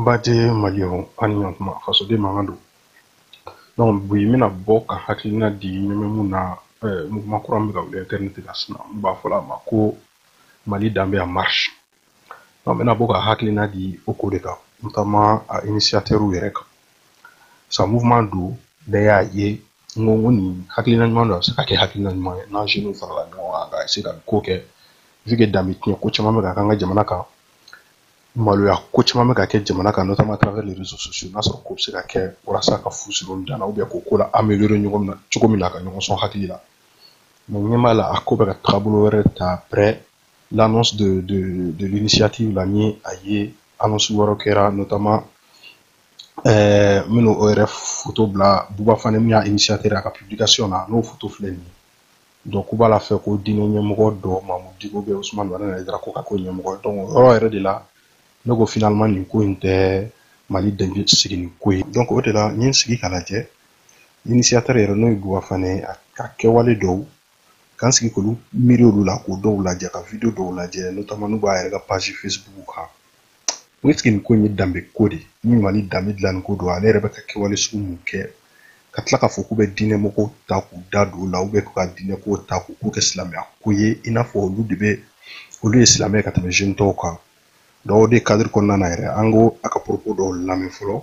Baden maliens an ni ɲɔgɔn kuma fasoden mankan don donc bi n bɛna bɔ ka hakilina di ɲɛmɛ mun na mouvement kura min bɛ ka wuli internet kan sisan n'u b'a fɔla a ma ko mali danbe en marche N bɛna bɔ ka hakilina di o ko de kan notamment a initiateur yɛrɛ kan sa mouvement don bɛɛ y'a ye n ko n ko nin hakilina ɲuman don a bɛ se ka kɛ hakilina ɲuman ye n'an jeunes farala ɲɔgɔn kan ka se ka nin ko kɛ vu que danbe tiɲɛ ko caman bɛ ka k'an ka jamana kan maloya ko caman bɛ ka kɛ jamana kan notamment à travers les réseaux sociaux n'a sɔrɔ ko bɛ se ka kɛ walasa ka fu siri olu dan na ou bien k'o ko la améliorer ɲɔgɔn min na cogo min na ka ɲɔgɔn sɔn hakili la mais n ɲɛ b'a la a ko bɛ ka taabolo wɛrɛ ta après l'annonce de, de, de l'initiative la n y'a ye annonce wɛrɛw kɛra notamment ɛɛ eh, minnu o yɛrɛ foto bila buba fane min y'a initiateur a ka publication na n'o foto filɛ nin ye donc k'u b'a la fɛ ko diinɛ ɲɛmɔgɔ dɔ mamudu diko ou bien usumani madani hayidara k'o k'a ko ɲɛmɔgɔ donc o yɔrɔ yɛrɛ de la ne ko finalement nin ko in tɛ mali danbe sigili ko ye donc o de la n ye n sigi k'a lajɛ initiateur yɛrɛ n'o ye buba fane ye a ka kɛwale dɔw ka n sigi k'olu miiri olu la k'o dɔw lajɛ ka video dɔw lajɛ notamment n'u b'a yɛrɛ ka page facebook kan n est ce que nin ko in ye danbe ko de ni mali danbe dilanni ko don ale yɛrɛ bɛ ka kɛwale sugu mun kɛ ka tila k'a fɔ k'u bɛ diinɛ mɔgɔw ta k'u da don o la ou bien k'u ka diinɛ kow ta k'u k'u kɛ silamɛya ko ye i n'a fɔ olu de bɛ olu ye silamɛ ka tɛmɛ jeune tɔw kan donc o de cadre kɔnɔna na yɛrɛ an k'a ka propos dɔw lamɛn fɔlɔ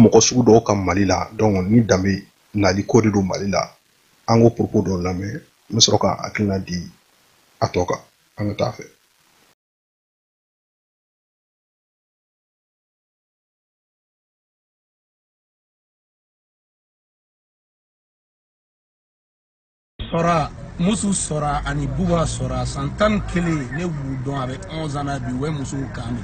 mɔgɔ sugu dɔw ka mali la donc ni danbe nali ko de don mali la an k'o propos dɔ lamɛn n bɛ sɔrɔ ka hakilina di a tɔ kan an ka taa fɛ sɔra musu sɔra ani buba sɔra san tan ni kelen ne b'u dɔn a bɛ 11 ans na bi u bɛ musow kan de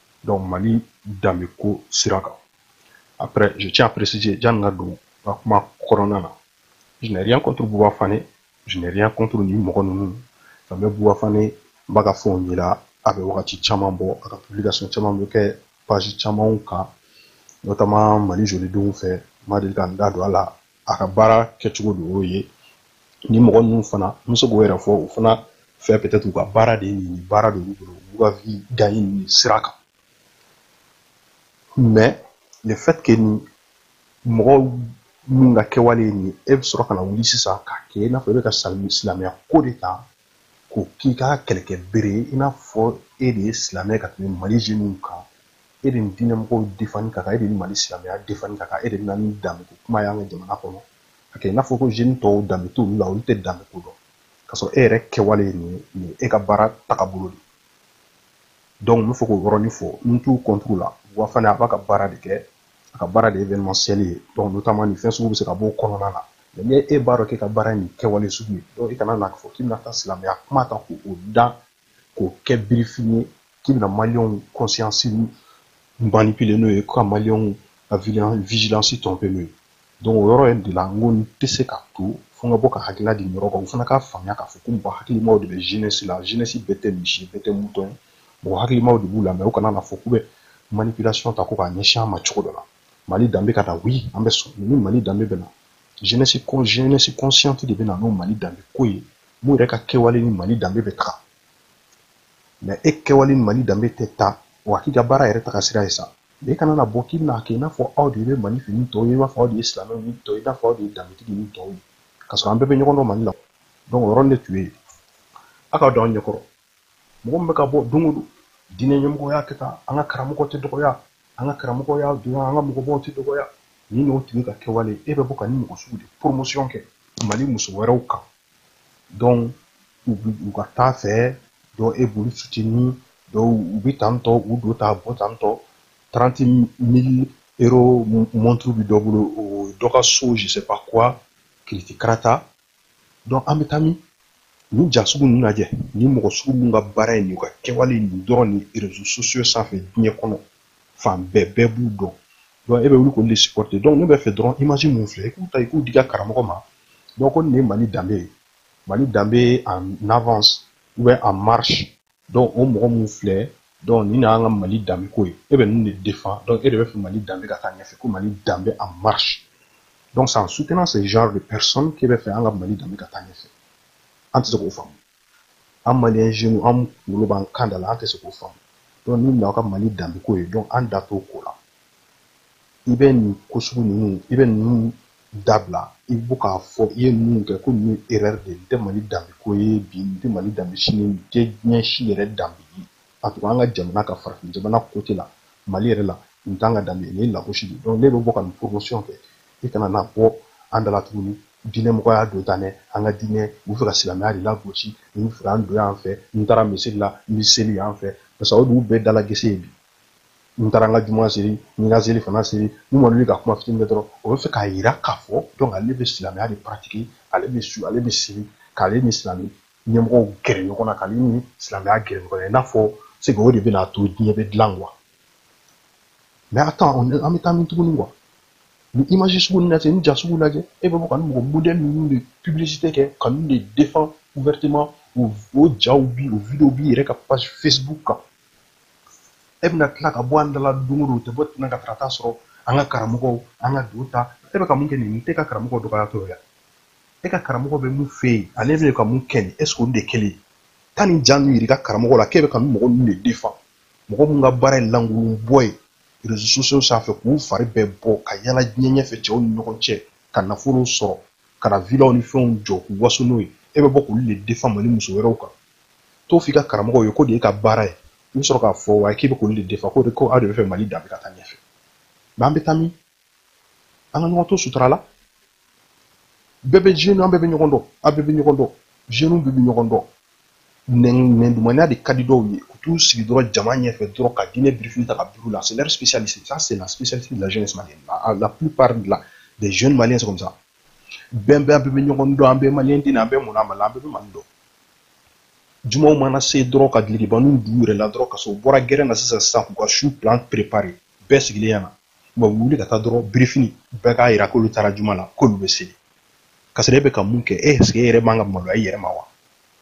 donc mali danbe ko sira kan après je tiens à préciser janni n ka don n ka kuma kɔnɔna na je n'ai rien contre buba fane je n'ai rien contre nin mɔgɔ ninnu nka n bɛ buba fane n b'a ka fɛnw yela a bɛ wagati caman bɔ a ka publication caman bɛ kɛ page camanw kan notamment mali jolidenw fɛ n ma deli ka n da don a la a ka baara kɛcogo de y'o ye nin mɔgɔ ninnu fana n bɛ se k'o yɛrɛ fɔ u fana fɛ peut-être u ka baara de ye nin ye baara de y'u bolo u ka vie gagner nin sira kan mais le fait que nin mɔgɔ minnu ka kɛwale ye nin ye e bɛ sɔrɔ ka na wuli sisan k'a kɛ i n'a fɔ e bɛ ka silamɛya ko de ta k'o k'i ka kɛlɛkɛ bere ye i n'a fɔ e de ye silamɛ ka tɛmɛ mali jeunes kan e de ni diinɛ mɔgɔw défendre ka kan e de ni mali silamɛya défendre ka kan e de bɛna ni danbeko kuma y'an ka jamana kɔnɔ a kɛ i n'a fɔ ko jeunes tɔw danbe t'olu la olu tɛ danbeko dɔn k'a sɔrɔ e yɛrɛ kɛwale ye nin nin ye e ka baara tagabolo de donc n bɛ fɛ k'o yɔrɔnin fɔ n t'u contre la buba fane a b'a ka baara de kɛ a ka baara de ye événementiel ye donc notamment nin fɛn sugu bɛ se ka b'o kɔnɔna na mais ni e b'a dɔn k'e ka baara ye nin kɛwale sugu ye donc i kana na fɔ k'i bɛna taa silamɛya kuma ta k'o da k'o kɛ birifini ye k'i bɛna maliyɛnw conscience manipuler n'o ye ka maliyɛnw ka vigilance tromper n'o ye donc o yɔrɔ in de la n ko n tɛ se ka to fo n ka bɔ ka hakilila di nin yɔrɔ kan o fana k'a faamuya k'a fɔ ko mɔgɔ hakilimaw de bɛ jeunesse la jeunesse bɛɛ tɛ misi bɛɛ tɛ mouton ye mɔgɔ hakilimaw de b'u la mais u kana na fɔ k'u bɛ manipulation ta ko k'a ɲɛsin an ma cogo dɔ la mali danbe ka na oui an bɛ sɔn ni mali danbe bɛ na jeunesse consciente de bɛ na n'o mali danbe ko ye mun yɛrɛ ka kɛwale ni mali danbe bɛ taga mais e kɛwale ni mali danbe tɛ taga k'i ka baara yɛrɛ taga sira ye sa e kana na bɔ k'i bɛna kɛ i n'a fɔ aw de bɛ mali fɛ ni tɔw ye i n'a fɔ aw de ye silamɛw ni tɔw ye i n'a fɔ aw de ye danbetigi ni tɔw ye k'a sɔrɔ an bɛɛ bɛ ɲɔgɔn dɔn mali la donc o yɔrɔnin de tun bɛ yen aw ka don an ɲɛkɔrɔ mɔgɔ min bɛ ka bɔ don o don diinɛ ɲɛmɔgɔ y'a kɛ tan an ka karamɔgɔ tɛ dɔgɔya an ka karamɔgɔ y'a dɔn an ka mɔgɔbaw tɛ dɔgɔya nin n'o tigi ka kɛwale e bɛ bɔ ka nin mɔgɔ sugu de promotion kɛ mali muso wɛrɛw kan donc u ka taa fɛ donc e b'olu soutenir donc u bɛ tantôt u don ta bɔ tantôt trente mille euros montre bɛ dɔ bolo dɔ ka so je sais pas quoi kiriti karata an bɛ taa min nin ja sugu ninnu lajɛ nin mɔgɔ sugu minnu ka baara ye nin ka kɛwale nin dɔrɔn ni réseaux sociaux sanfɛ diɲɛ kɔnɔ fan bɛɛ bɛɛ b'u dɔn donc e bɛ wuli k'olu de supporter donc ne bɛ fɛ dɔrɔn image minnu filɛ i k'u ta i k'u d'i ka karamɔgɔ ma donc ko nin ye mali danbe ye mali danbe en avance ou bien en marche donc o mɔgɔ minnu filɛ donc nin na an ka mali danbe ko ye e bɛ ninnu de défendre donc e de bɛ fɛ mali danbe ka taa ɲɛfɛ ko mali danbe en marche donc c'est en soutenant ce genre de personne k'e bɛ fɛ an ka mali danbe ka taa ɲɛfɛ an tɛ se k'o faamu an maliyɛn jeunes an kunkolo b'an kan da la an tɛ se k'o faamu donc nin na aw ka mali danbe ko ye donc an da t'o ko la i bɛ nin ko sugu ninnu i bɛ ninnu dabila i bɔ k'a fɔ i ye ninnu kɛ ko ninnu erreur de n tɛ mali danbe ko ye bi n tɛ mali danbe sini n tɛ diɲɛ si yɛrɛ danbe ye a tun an ka jamana ka farafin jamana côté la mali yɛrɛ la n t'an ka danbe nin ye lagosi de donc n'e bɛ bɔ ka nin promotion kɛ i kana na bɔ an da la tuguni diinɛ mɔgɔya don tan dɛ an ka diinɛ u bɛ fɛ ka silamɛya de lagosi u bɛ fɛ an dɔgɔya en fait n taara misiri la n bɛ seli en fait parce que o dugu bɛɛ dalagese ye bi n taara n ka juma seli n ka seli fana seli ni mɔgɔ ka kuma fitinin kɛ dɔrɔn o bɛ fɛ k'a yira k'a fɔ donc ale bɛ silamɛya de pratiquer ale bɛ sun ale bɛ seli k'ale ni silamɛ ɲɛmɔgɔw gɛrɛ ɲɔgɔn na k'ale ni silamɛya gɛrɛ ɲɔgɔn na i n'a fɔ c'est que o de bɛna to diɲɛ bɛ dilan quoi mais attends an bɛ taa min tuguni quoi nin image sugu ninnu lajɛ nin ja sugu lajɛ e bɛ bɔ ka nin mɔgɔ modèle ninnu de publicité kɛ ka ninnu de défend ouvertement o jaw b'i o vidéo b'i yɛrɛ ka page facebook kan e bɛna tila ka bɔ an da la don o don tɛ bɔ tɛnɛn ka tarata sɔrɔ an ka karamɔgɔw an ka don ta e bɛ ka mun kɛ nin tɛ ka karamɔgɔ dɔgɔya tɔ yan e ka karamɔgɔ bɛ mun fɛ yen ale bɛ ka mun kɛ nin est-ce que olu de kelen ye taa nin ja ninnu yira i ka karamɔgɔ la k'e bɛ ka nin mɔgɔ ninnu de défend mɔgɔ minnu ka baara ye lankolon bɔ ye réseaux sociaux sanfɛ k'u fari bɛɛ bɔ ka yala diɲɛ ɲɛfɛ cɛw ni ɲɔgɔn cɛ ka nafolow sɔrɔ ka na vilaw ni fɛnw jɔ k'u waso n'o ye e bɛ bɔ k'olu de défend mali muso wɛrɛw kan t'o f'i ka karamɔgɔw ye k'o de y'e ka baara ye i bɛ sɔrɔ k'a fɔ wa k'i bɛ k'olu de défend ko de ko aw de bɛ fɛ mali danbe ka taa ɲɛfɛ mais an bɛ taa min an ka ɲɔgɔn to sutura la bɛɛ bɛ jeune an bɛɛ bɛ ɲɔgɔn dɔn aw bɛɛ bɛ ɲɔgɔn dɔn jeunes bɛɛ bɛ ɲɔgɔn dɔn nɛndumanya de ka di dɔw ye u t'u sigi dɔrɔn jama ɲɛfɛ dɔrɔn ka diinɛ birifini ta ka biri la c'est leur spécialité ça c'est la spécialité de la jeunesse malienne la plupart de la des jeunes maliens c'est comme ça bɛn bɛɛ an bɛɛ bɛ ɲɔgɔn dɔn an bɛɛ maliyɛn den an bɛɛ mɔna mali an bɛɛ bɛ mali dɔn jumaw mana se dɔrɔn ka dulɔkibaninw don u yɛrɛ la dɔrɔn ka sɔrɔ u bɔra gɛrɛn na sisan sisan k'u ka su plan préparer bɛɛ sigilen yan na wa u wuli ka taa dɔrɔn birifini bɛɛ k'a yira k'olu taara juma la k'olu bɛ seli ka sɔrɔ e bɛ ka mun kɛ est-ce que e yɛrɛ man kan ka maloya i yɛrɛ ma wa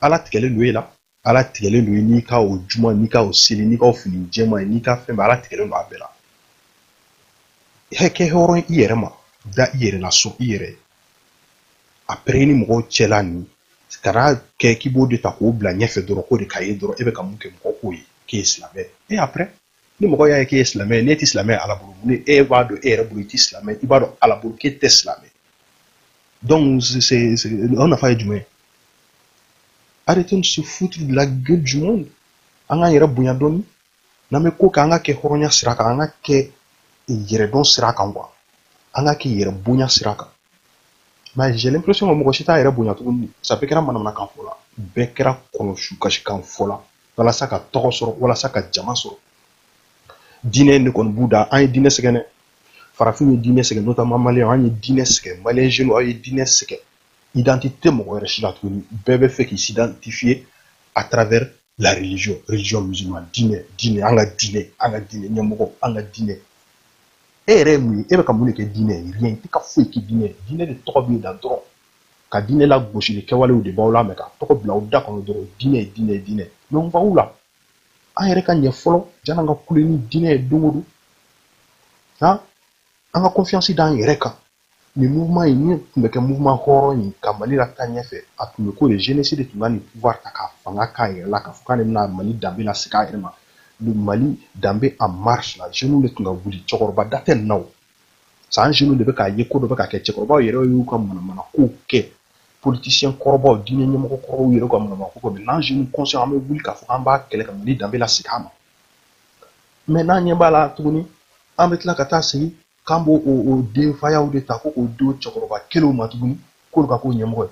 ala tigɛlen don e la ala tigɛlen don i n'i ka o juma n'i ka o seli n'i ka o fini jɛman ye n'i ka fɛn bɛɛ ala tigɛlen don a bɛɛ la e kɛ hɔrɔn i yɛrɛ ma da i yɛrɛ la sɔn i yɛrɛ après ni mɔgɔw cɛla nin kana kɛ k'i b'o de ta k'o bila ɲɛfɛ dɔrɔn k'o de ka ye dɔrɔn e bɛ ka mun kɛ mɔgɔ k'o ye k'e ye silamɛ et après ni mɔgɔ y'a ye k'e ye silamɛ ye n'e tɛ silamɛ ye ala bolo ni e b'a dɔn e yɛrɛ bolo i tɛ silamɛ i b'a dɔn ala bolo k'e tɛ silamɛ donc o nafa ye jumɛn ye arrêtez de se foutre de la gueule du monde an k'an yɛrɛ bonya dɔɔni n'an bɛ ko kɛ an ka kɛ hɔrɔnya sira kan an ka kɛ yɛrɛdɔn sira kan quoi an ka kɛ yɛrɛ bonya sira kan mais j'ai l'impression que mɔgɔ si t'a yɛrɛ bonya tuguni sa bɛɛ kɛra manamanakan fɔla bɛɛ kɛra kɔnɔ su kasikan fɔla walasa ka tɔgɔ sɔrɔ walasa ka jama sɔrɔ diinɛ in de kɔni b'u da an ye diinɛ sɛgɛn dɛ farafinw ye diinɛ sɛgɛn notamment maliyɛnw an ye diinɛ sɛgɛn maliyɛn jeunes aw ye diinɛ sɛgɛn identité mɔgɔ wɛrɛ si la tuguni bɛɛ bɛ fɛ k'i s'identifier à travers la religion religion musulmane diinɛ diinɛ an ka diinɛ an ka diinɛ ɲɛmɔgɔ an ka diinɛ e yɛrɛ ye mun ye e bɛ ka mun de kɛ diinɛ ye rien i tɛ ka foyi kɛ diinɛ ye diinɛ de tɔgɔ b'i la dɔrɔn ka diinɛ lagosili kɛwalew de b'aw la mais ka tɔgɔ bila aw da kɔnɔ dɔrɔn diinɛ diinɛ diinɛ mais on va où là an yɛrɛ ka ɲɛ fɔlɔ jan'an ka kule ni diinɛ ye don o don ha an ka confiance d'an yɛrɛ kan nin mouvement ye min tun bɛ kɛ mouvement hɔrɔn ye ka mali lataa ɲɛfɛ a tun bɛ ko de jeunesse de tun ka nin pouvoir ta ka fanga k'a yɛrɛ la k'a fɔ k'ale bɛna mali danbe lasegin a yɛrɛ ma le mali danbe en marche là jeunes de tun ka wuli cɛkɔrɔba da tɛ nin na o san jeunes de bɛ k'a ye ko dɔ bɛ ka kɛ cɛkɔrɔbaw yɛrɛ y'u ka manamana kow kɛ politiciens kɔrɔbaw diinɛ ɲɛmɔgɔ kɔrɔbaw yɛrɛ ka manamana ko kɛ mais n'an jeunes conscients an bɛ wuli k'a fɔ k'an b'a kɛlɛ ka mali danbe lasegin a ma mais n'an ɲɛ b'a la tuguni an bɛ tila ka taa sigi k'an b'o o denfayaw de ta ko k'o d'o cɛkɔrɔba kelenw ma tuguni k'olu ka k'o ɲɛmɔgɔ ye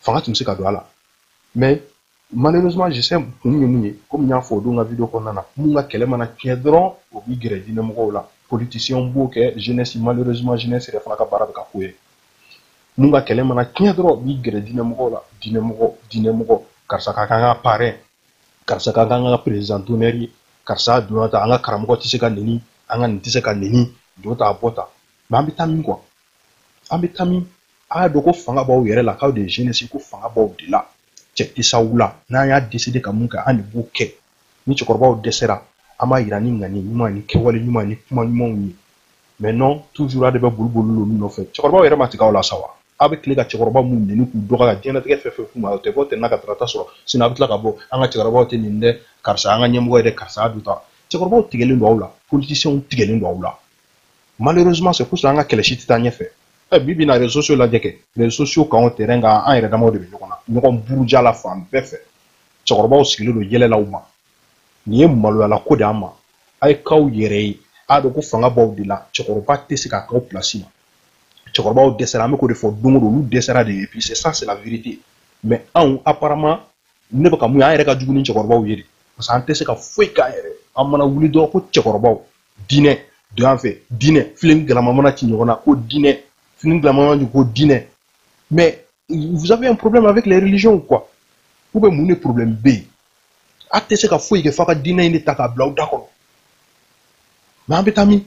fanga tun bɛ se ka don a la mais malheureusement je sais kun ye mun ye komi n y'a fɔ o don n ka video kɔnɔna na min ka kɛlɛ mana tiɲɛ dɔrɔn o b'i gɛrɛ diinɛmɔgɔw la politiciens b'o kɛ jeunesse malheureusement jeunesse yɛrɛ fana ka baara bɛ ka k'o ye min ka kɛlɛ mana tiɲɛ dɔrɔn b'i gɛrɛ diinɛmɔgɔw la diinɛmɔgɔ diinɛmɔgɔ karisa ka k'an ka parrain karisa ka k'an ka président d'honneur ye karisa donna ta an ka karamɔgɔ tɛ se ka neni an ka nin tɛ se ka neni don ta a bɔ ta mais an bɛ taa min quoi an bɛ taa min a y'a dɔn ko fanga b'aw yɛrɛ la k'aw de ye jeunesse ko fanga b'aw de la cɛ isaw la n'an y'a décider ka min kɛ an de b'o kɛ ni cɛkɔrɔbaw dɛsɛra an b'a yira ni ŋani ɲuman ni kɛwale ɲuman ni kuma ɲumanw ye mais non toujours a de bɛ boli boli olu nɔfɛ cɛkɔrɔbaw yɛrɛ ma tigɛ aw la sa wa aw bɛ tile ka cɛkɔrɔba minnu neni k'u dɔgɔya ka diɲɛlatigɛ fɛn fɛn f'u ma o tɛ bɔ tɛnɛn na ka tarata sɔrɔ sini a bɛ tila ka bɔ an ka cɛkɔrɔbaw tɛ neni dɛ karisa an ka ɲɛmɔgɔ ye dɛ karisa a dun ta cɛkɔrɔbaw tigɛlen don aw la politiciens tigɛlen don aw la malheureusement c'est pour ça an ka kɛlɛ si tɛ taa ɲɛfɛ ɛ bi bi in na réseaux sociaux lajɛ kɛ réseaux sociaux kan o terrain kan an yɛrɛ damaw de bɛ ɲɔgɔn na ɲɔgɔn buruja la fan bɛɛ fɛ cɛkɔrɔbaw sigilen don yɛlɛ la u ma nin ye maloyala ko de an ma a ye k'aw yɛrɛ ye a dɔn ko fanga b'aw de la cɛkɔrɔba tɛ se k'a k'aw place ma cɛkɔrɔbaw dɛsɛra an bɛ k'o de fɔ don o don olu dɛsɛra de et puis c'est ça c'est la vérité mais anw apparemment ne bɛ ka min ye an yɛrɛ ka jugu ni cɛkɔrɔbaw ye de parce que an tɛ se ka foyi k'an yɛrɛ an mana wuli dɔrɔn ko cɛkɔrɔbaw diinɛ don an fɛ diinɛ filen galama mana ci ɲɔgɔn na ko diinɛ filen galama mana ci ko diinɛ mais vous avez un problème avec les religions quoi ou bien mun de problème bɛ yen a tɛ se ka foyi kɛ f'a ka diinɛ in de ta k'a bila aw da kɔnɔ mais an bɛ taa min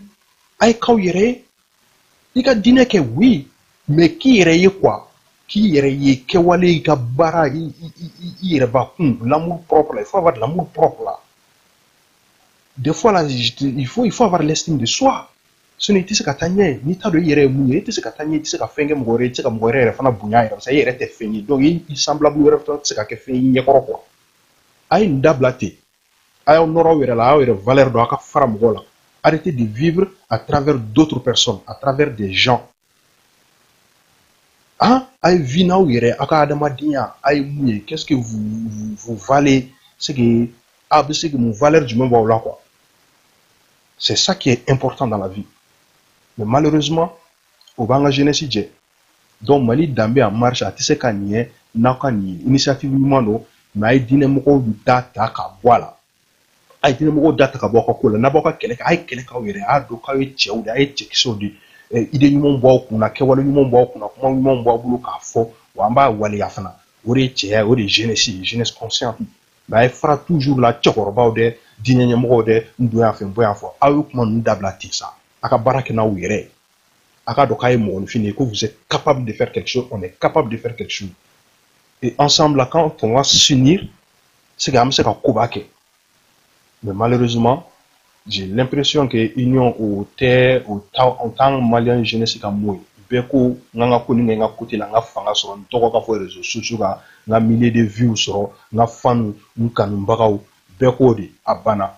a ye k'aw yɛrɛ ye i ka diinɛ kɛ oui mais k'i yɛrɛ ye quoi k'i yɛrɛ ye kɛwale i ka baara i yɛrɛ bakun l'amour propre là il faut avoir l'amour propre là des fois là il faut il faut avoir l'estime de soi sinon i tɛ se ka taa ɲɛ n'i t'a dɔn i yɛrɛ ye mun ye i tɛ se ka taa ɲɛ i tɛ se ka fɛn kɛ mɔgɔ wɛrɛ ye i tɛ se ka mɔgɔ wɛrɛ yɛrɛ fana bonya yɛrɛ parce que i yɛrɛ tɛ fɛn ye donc i semblable wɛrɛ fana tɛ se ka kɛ fɛn y'i ɲɛkɔrɔ quoi a ye nin dabila ten a y'aw nɔrɔ aw yɛrɛ la a y'aw yɛrɛ valeur dɔn a ka fara mɔgɔw la arrêtez de vivre à travers d'autres personnes à travers des gens hein a ye vie n'aw yɛrɛ a ka adamadenya a ye mun ye qu'est-ce que vous valez c'est que a bɛ se ka mun valeur jumɛn b'aw la quoi c'est ça qui est important dans la vie mais malheureusement o b'an ka jeunesse jɛ donc mali danbe en marche a tɛ se ka ɲɛ n'aw ka nin initiative ɲuman don mais a ye diinɛ mɔgɔw da ta ka bɔ a la a ye diinɛ mɔgɔw da ta ka bɔ aw ka ko la n'a b'aw ka kɛlɛ kɛ a ye kɛlɛ k'aw yɛrɛ a y'a dɔn k'aw ye cɛw de a ye cɛkisɛw de idée ɲumanw b'aw kunna kɛwale ɲumanw b'aw kunna kuma ɲumanw b'aw bolo k'a fɔ wa an b'a waleya fana o de ye cɛya o de ye jeunesse ye jeunesse consciente mais a ye fara toujours la cɛkɔrɔbaw dɛ diinɛ ɲɛmɔgɔw dɛ n don yan fɛ n bɔ yan fɛ aw ye kuma ninnu dabila ten sa a ka baara kɛ n'aw yɛrɛ ye a k'a dɔn k'a ye mɔgɔninfin de ye ko vous êtes capable de faire quelque chose on est capable de faire quelque chose et ensemble là quand on va s'unir c'est que an bɛ se ka koba kɛ mais malheureusement j'ai l'impression que union o tɛ o t'an o t'an maliyɛn jeunesse ka mot ye bɛɛ ko n ka n ka ko nin kɛ n ka côté la n ka fanga sɔrɔ n tɔgɔ ka fɔ réseaux sociaux kan n ka milliers de vues sɔrɔ n ka fanw n kanubagaw bɛɛ k'o de a banna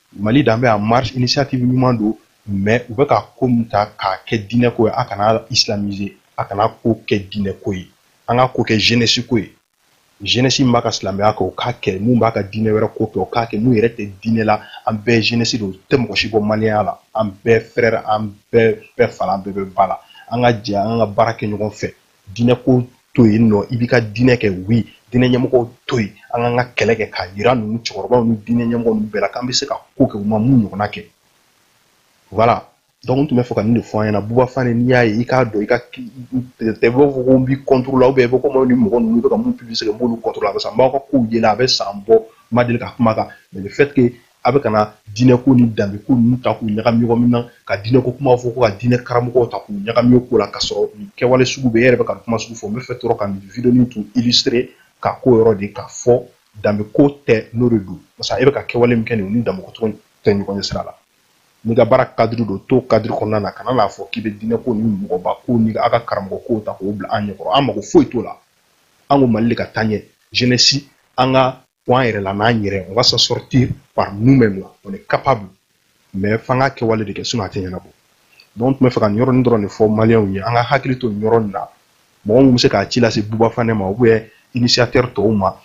mali danbe en marche initiative ɲuman don mais u bɛ ka ko min ta k'a kɛ diinɛ ko ye a kana islamiser a kana ko kɛ diinɛ ko ye an ka ko kɛ jeunesse ko ye jeunesse min b'a ka silamɛya kɛ o k'a kɛ min b'a ka diinɛ wɛrɛ ko kɛ o k'a kɛ min yɛrɛ tɛ diinɛ la an bɛɛ ye jeunesse de o tɛ mɔgɔ si bɔ maliyɛnya la an bɛɛ frère an bɛɛ bɛ fa la an bɛɛ bɛ ba la an ka jɛ an ka baara kɛ ɲɔgɔn fɛ diinɛ ko to yen non i b'i ka diinɛ kɛ oui diinɛ ɲɛmɔgɔw to yen an k'an ka kɛlɛ kɛ k'a yira ninnu cɛkɔrɔbaw ni diinɛ ɲɛmɔgɔ ninnu bɛɛ la k'an bɛ se ka ko kɛ u ma min ɲɔgɔnna kɛ voilà donc n tun bɛ fɛ ka nin de fɔ an ɲɛna buba fane n'i y'a ye i k'a dɔn k'a tɛ i b'a fɔ ko n b'i contre la ou bien i bɛ komi ni mɔgɔ ninnu bɛ ka min publier kɛ n b'olu contre la parce que n b'aw ka kow ye la a bɛ san bɔ n ma deli ka kuma kan mais le fait que a bɛ ka na diinɛko ni danbeko ninnu ta k'u ɲagami ɲɔgɔn na ka diinɛko kuma fɔ ko ka diinɛ karamɔgɔw ta k'u ɲagami ko la ka sɔrɔ nin kɛwale sugu bɛ e yɛrɛ bɛ ka kuma sugu fɔ n bɛ fɛ dɔrɔn ka nin vidéo nin tun illustrer ka ko yɔrɔ de k'a fɔ danbeko tɛ n'o de don parce que e bɛ ka kɛwale min kɛ nin ni danbeko tɔgɔ tɛ ɲɔgɔn ɲɛsira la n'i ka baara cadre don to cadre kɔnɔna na kana n'a fɔ k'i bɛ diinɛko ni mɔgɔba ko ni a ka karamɔgɔ kow ta k'o bila an ɲɛkɔrɔ an mago foyi t'o la an ko mali de ka taa ɲɛ jeunesse an ka bɔ an yɛrɛ la n'an yɛrɛ on va s'en sortir par nous-mêmes là on est capable mais f'an ka kɛwale de kɛ sinon a tɛ ɲɛnabɔ donc n tun bɛ fɛ ka nin yɔrɔnin dɔrɔn de fɔ maliyɛnw ye an ka hakili to nin yɔrɔ nin na mɔgɔ min bɛ se k'a ci lase buba fane ma ou bien initiateur tɔw ma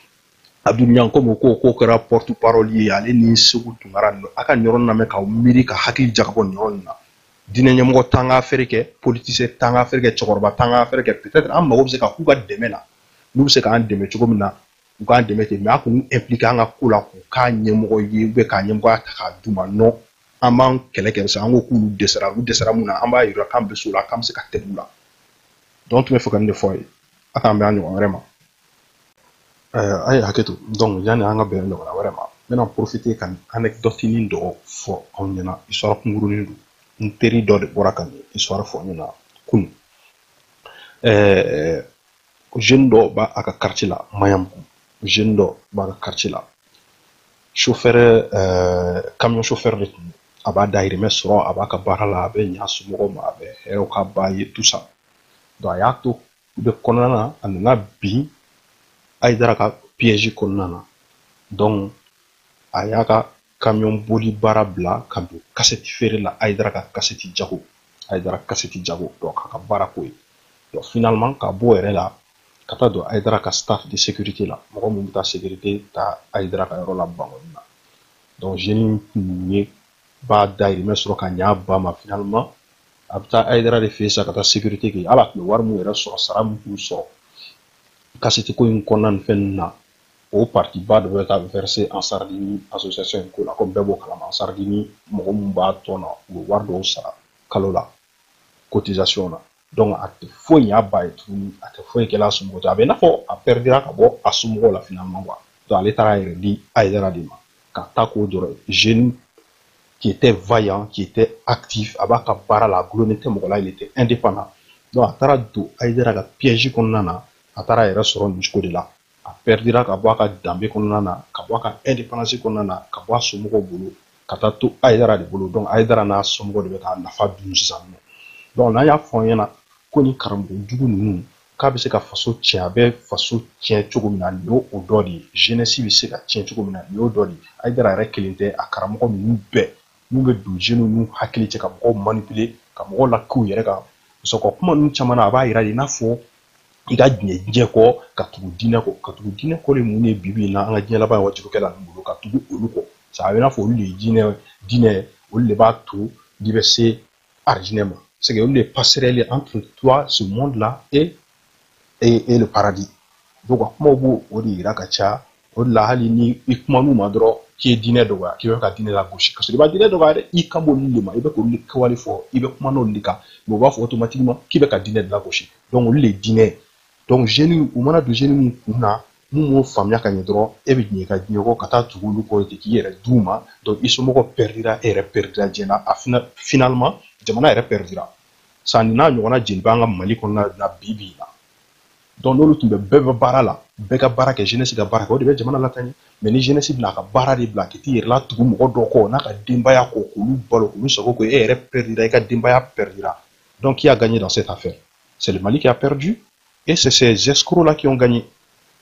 abdul ɲan komi o ko k'o kɛra porte parole ye ale ni seku tunkara ninnu a ka nin yɔrɔnin lamɛn k'aw miiri ka hakili jagabɔ nin yɔrɔnin na diinɛ ɲɛmɔgɔ t'an ka affaire kɛ politicien t'an ka affaire kɛ cɛkɔrɔba t'an ka affaire kɛ peut-être an mago bɛ se ka k'u ka dɛmɛ na n'u bɛ se k'an dɛmɛ cogo min na u k'an dɛmɛ ten mais a k'u impliquer an ka ko la k'u k'a ɲɛmɔgɔ ye ou bien k'a ɲɛmɔgɔya ta k'a d'u ma non an b'an kɛlɛ kɛ sa an ko k'olu dɛsɛra olu dɛsɛra mun na an b'a yira k'an bɛ s'o la k'an bɛ se ka tɛmɛ u la donc tun b'a fɛ ka nin de fɔ a ye a k'an bɛn a ɲɔgɔn wɛrɛ ma a ye hakɛ to donc yanni an ka bɛn ɲɔgɔnna wɛrɛ ma n bɛna profiter ka nin anɛkidɔtinin dɔ fɔ aw ɲɛna histoire kunkurunin don n teri dɔ de bɔra ka nin histoire fɔ n ɲɛna kunun jeune dɔ b'a a ka quartier la maɲanbugu jeune dɔ b'a ka quartier la chauffeur euh, camion chauffeur de tun a b'a dahirimɛ sɔrɔ a b'a ka baara la a bɛ ɲa somɔgɔw ma a bɛ hɛrɛ k'a ba ye tout ça donc a y'a to o bɛɛ kɔnɔna na a nana bin ayidara ka piège kɔnɔna na donc a y'a ka camion boli baara bila ka don kasɛti feere la ayidara ka kasɛti jago ayidara kasɛti jago donc k'a ka baara k'o ye donc finalement ka b'o yɛrɛ la ka taa don ayidara ka staff de sécurité la mɔgɔ min bɛ taa sécurité ta ayidara ka yɔrɔ la bankɔni na donc jeune tun ye b'a dahirimɛ sɔrɔ ka ɲa a ba ma finalement a bɛ taa ayidara de fɛ sa ka taa sécurité kɛ hali a tun bɛ wari min yɛrɛ sɔrɔ sara min tun sɔrɔ kasɛti ko in kɔnɔna ni fɛn ninnu na o partie ba dɔ bɛ ka verser ansardini association in ko la comme bɛɛ b'o kalama ansardini mɔgɔ min b'a tɔn na u bɛ wari dɔw sara kalo la cotisation na donc a tɛ foyi ɲ'a ba ye tuguni a tɛ foyi kɛla a somɔgɔw ye a bɛ i n'a fɔ a pɛridira ka bɔ a somɔgɔw la finalement quoi donc ale taara a yɛrɛ di ayidara de ma ka taa k'o dɔrɔn jeune qui était vaillant qui était actif a b'a ka baara la a gulonnen tɛ mɔgɔ la il était indépendant donc a taara don ayidara ka piège kɔnɔna na a taara a yɛrɛ sɔrɔ nin cogo de la a pɛridira ka bɔ a ka danbe kɔnɔna na ka bɔ a ka indépendance kɔnɔna na ka bɔ a somɔgɔw bolo ka taa to ayidara de bolo donc ayidara n'a somɔgɔw de bɛ k'a nafa dun sisan non donc n'an y'a fɔ an ɲɛna ko nin karamɔgɔ jugu ninnu k'a bɛ se ka faso tiɲɛ a bɛ faso tiɲɛ cogo min na nin y'o dɔ de ye jeunesse bɛ se ka tiɲɛ cogo min na nin y'o dɔ de ye ayidara yɛrɛ kelen tɛ a karamɔgɔ ninnu bɛɛ n'u bɛ don jeunes ninnu hakili cɛ ka mɔgɔw manipuler ka mɔgɔw lak'u yɛrɛ kan parce que kuma ninnu caman na a b'a yira de i n'a fɔ i ka diɲɛ diɲɛ kɔ ka tugu diinɛ kɔ ka tugu diinɛ kɔ de mun ye bi bi in na an ka diɲɛ laban waajulikɛla ninnu bolo ka tugu olu kɔ sa a bɛ i n'a fɔ olu de ye diinɛ diinɛ olu de b'a to n'i bɛ se arijinɛ ma c'est que olu de passerelle entre toi ce monde là et et, et le paradis donc a kumaw b'o de yira ka caya o de la hali ni i kuman'u ma dɔrɔn k'i ye diinɛ dɔgɔya k'i bɛ ka diinɛ lagosi kasɔrɔ i ma diinɛ dɔgɔya dɛ i kan b'olu de ma i bɛ k'olu de kɛwale fɔ i bɛ kuman'olu de kan mais u b'a fɔ automatiquement k'i bɛ ka diinɛ de lagosi donc olu de ye diinɛ ye donc jeunes u mana don jeunes min kun na min m'o faamuya ka ɲɛ dɔrɔn e bɛ diɲɛ ka diɲɛ kɔ ka taa tugu olu kɔ ten k'i yɛrɛ d'u ma donc i somɔgɔw pɛridira e yɛrɛ pɛridira diɲɛ na a finalement jamana yɛrɛ pɛridira sa nin n'a ɲɔgɔnna jeli b'an ka mali kɔnɔna na bi bi in na donc n'olu tun bɛ bɛɛ bɛ baara la bɛɛ ka baara kɛ jeunesse ka baara kɛ o de bɛ jamana lataa ɲɛ mais ni jeunesse bɛna a ka baara de bila ka t'i yɛrɛ latugu mɔgɔ dɔ kɔ n'a ka denbaya kɔ k'olu balo k'olu sago kɛ e yɛrɛ perdira i ka denbaya perdira donc qui a gagné dans cette affaire c'est le Mali qui a perdu et c'est ces escrocs là qui ont gagné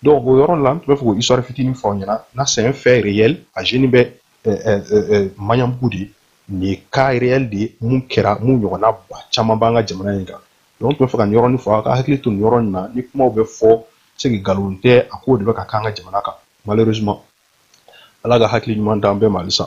donc o yɔrɔ la n tun bɛ fɛ k'o histoire fitinin fɔ aw ɲɛna n'a c'est un fait réel a jeune bɛ euh, euh, euh, Maɲanbugu de nin ye cas réel de ye mun kɛra mun ɲɔgɔnna ba caman b'an ka jamana in kan donc n tun bɛ fɛ ka nin yɔrɔnin fɔ a ka hakili to nin yɔrɔ in na nin kumaw bɛ fɔ c'est que nkalon tɛ a kow de bɛ ka k'an ka jamana kan malheureusement ala ka hakili ɲuman d'an bɛɛ ma halisa